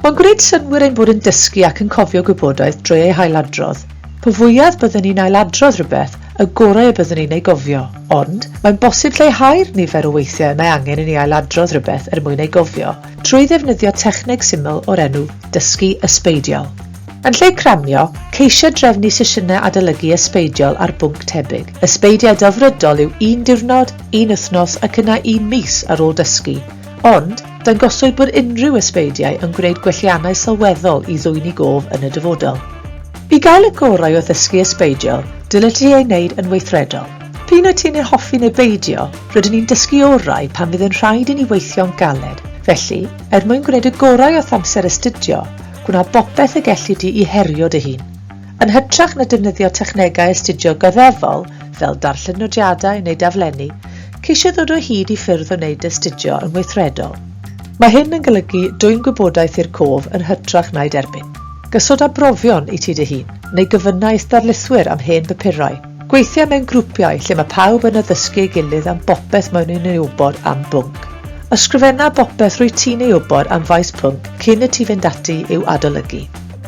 Mae'n gwneud synnwyr ein bod yn dysgu ac yn cofio gwybodaeth drwy ei hailadrodd. Po fwyaf byddwn ni'n ailadrodd rhywbeth, y gorau y byddwn ni'n ei gofio, ond mae'n bosib lleihau'r nifer o weithiau y mae angen i ni ailadrodd rhywbeth er mwyn ei gofio, trwy ddefnyddio techneg syml o'r enw dysgu ysbeidiol. Yn lle cramio, ceisia drefnu sesiynau adolygu ysbeidiol ar bwnc tebyg. Ysbeidiau delfrydol yw un diwrnod, un wythnos ac yna un mis ar ôl dysgu. Ond, dangoswyd bod unrhyw ysbeidiau yn gwneud gwelliannau sylweddol i ddwyni gof yn y dyfodol. I gael y gorau o ddysgu ysbeidiol, dylid ti ei wneud yn weithredol. P'un wyt ti'n ei hoffi neu beidio, rydyn ni'n dysgu orau pan fydd yn rhaid i ni weithio'n galed. Felly, er mwyn gwneud y gorau o'th amser astudio, Gwna bopeth y gelli di i herio dy hun. Yn hytrach na defnyddio technegau astudio goddefol, fel darllen nodiadau neu daflenni, ceisio ddod o hyd i ffyrdd o wneud astudio yn weithredol. Mae hyn yn golygu dwyn gwybodaeth i'r cof yn hytrach na'i derbyn. Gosod arbrofion i ti dy hun, neu gofynna i'th darlithwyr am hen bapurau. Gweithio mewn grwpiau lle mae pawb yn addysgu ei gilydd am bopeth maen nhw'n ei wybod am bwnc. Ysgrifenna bopeth rwyt ti'n ei wybod am faes pwnc cyn i ti fynd ati i'w adolygu.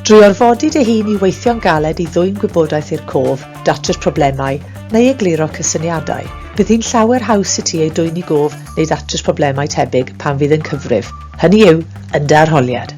Drwy orfodi dy hun i weithio'n galed i ddwyn gwybodaeth i'r cof, datrys problemau, neu egluro cysyniadau, bydd hi'n llawer haws i ti ei dwyn i gof neu ddatrys problemau tebyg pan fydd yn cyfrif, hynny yw, yn dy arholiad.